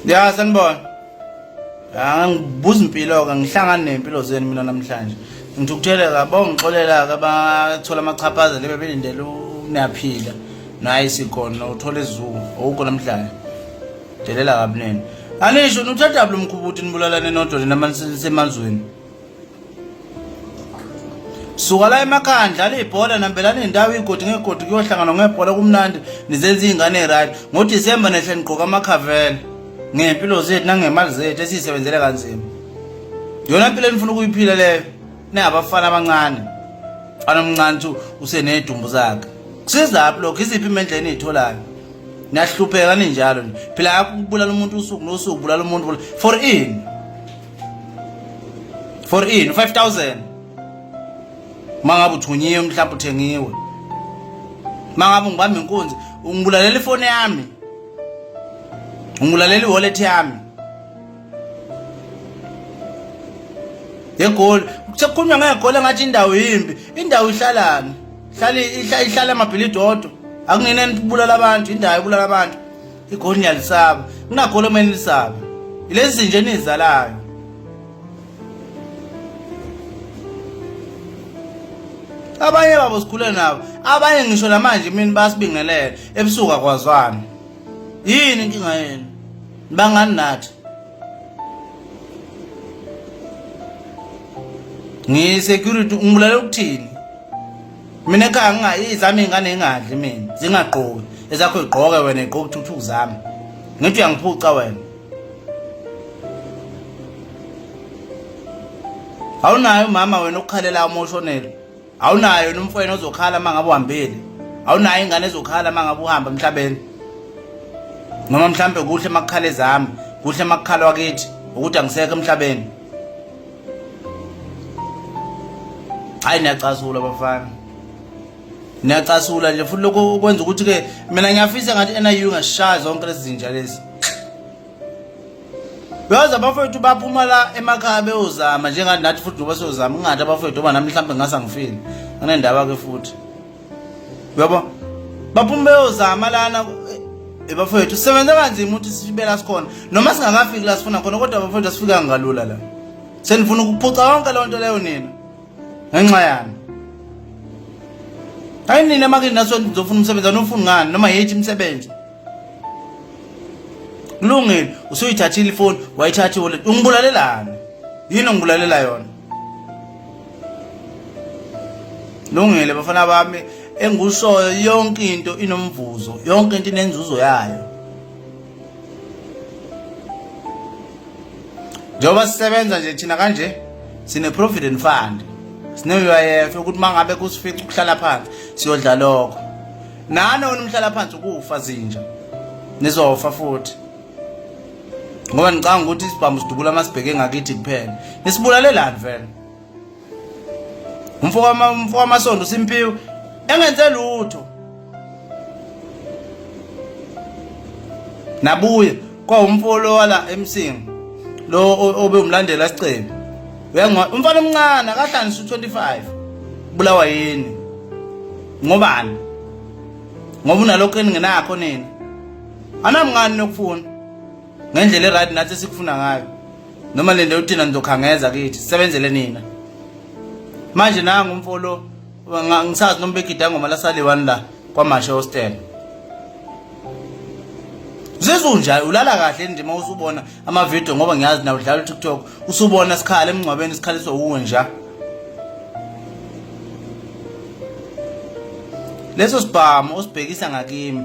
Ya sanibona. Ya ngibuza impilo ke ngihlangana nempilo zenu mina namhlanje. Ngithukuthele kabo ngixolela ke bathola amachaphaza lebe belindele unaphila. Nayi sikhona uthola izulu awukho namhlanje. Delela kabi nini. Anisho nuthatha lo mkhubuthi nibulalane nodwa nina manise semanzweni. suka la emakhaya ndlala ibhola nambelana nendawo igodi ngegodi kuyohlangana ngebhola kumnandi nizenza iy'ngane right ngodisemba nehle nigqoka amakhavela ngey'mpilo zethu nangemali zethu esiyisebenzele kanzima yona mpilo enifuna ukuyiphila leyo ningabafana abancane mfana omncane ukuthi usenedumbu zakhe kusizaphi lokho iziphi imendla eniyitholayo niyahlupheka ninjalo phela akubulala umuntu usuku nosuku bulala umuntu for ini for in 5000 mangabe uthunyiwe mhlawumbe uthengiwe mangabe ngibamba inkunzi ungibulalela ifoni yami ungibulalela iwallet yami yegoli sekukhulunywa ngegoli engathi indawo yimbi indawo ihlalani ihlala ihlala amabhilidi odwa akungeneni kubulala abantu indawo ibulala abantu igoli niyalisaba kunagoli omele lisaba ilezi zinje enizalayo abanye babo sikhule nabo abanye ngisho namanje mina basibingelele ebusuku akwazwana yini inkinga yenu bangani nathi ngisecurity ungibulale ukuthini mina ekhaya ngingayizami iy'ngane ingadli mina zingagqoki ezakho igqoke wena igqoke uthuthuku zami ngithi uyangiphuca wena awunayo umama wena ukukhalela umoshonelo awunayo yena umfwena ozokhala uma ngabe uhambile awunayo ingane ezokhala uma ngabe uhamba emhlabeni noma mhlampe kuhle makukhala ezami kuhle makukhalwa kithi ukuthi angisekho emhlabeni hayi niyacasula bafana niyacasula nje futhi lokho kwenza ukuthi ke mina ngiyafisa ngathi NIU ngashaya zonke lezi zinja lezi Yazi abafowethu baphuma la emakhaya beyozama njengathi nathi futhi ngoba siyozama ungathi abafowethu oba nami mhlawumbe ngasangifile. Anendaba ke futhi. uyabo baphuma beyozama lana eh, bafowethu sisebenza kanzima ukuthi sibela sikhona noma singakafiki la sifuna khona kodwa bafowethu asifikanga kalula la senifuna ukuphuca yonke leyo nto leyo nina ngenxa yani hayi nina makini naso nizofuna umsebenzi anofuni ngani noma yethi imisebenzi kulungile usuyithathile ifoni wayithatha iwallet ungibulalelani yini ongibulalelayo yona Lungile bafana bami engikushoyo yonke into inomvuzo yonke into inenzuzo yayo njengoba sisebenza nje thina kanje sine-provident fund sine-uyf ukuthi uma ngabe kusifica ukuhlala phansi siyodla lokho nani wena umhlala phansi ukufa zinja nizofa futhi ngoba ngicanga ukuthi isibhamu sidubula masibheke ngakithi kuphela nisibulalelani vele umfo wama umfo wamasondo simpiwe engenze lutho nabuye kwa umfo lo wala emsingi lo obe umlandela isicebi uyangwa umfana omncane akahlanisa u25 bulawa yini ngobani ngoba unalokho eningenakho nini anami ngani nokufuna ngendlela eright nathi sikufuna ngayo noma lento yokuthina nizokhangeza kithi sisebenzele nina manje nangu umfo lo ngisazi noma begida ngoma lasaliwani la kwamashe hostel zizunjani ulala kahle ndima usubona amavidiyo ngoba ngiyazi na udlala utiktok usubona sikhala emngcwabeni sikhaliswa wuwe nja leso sibhamu osibhekisa ngakimi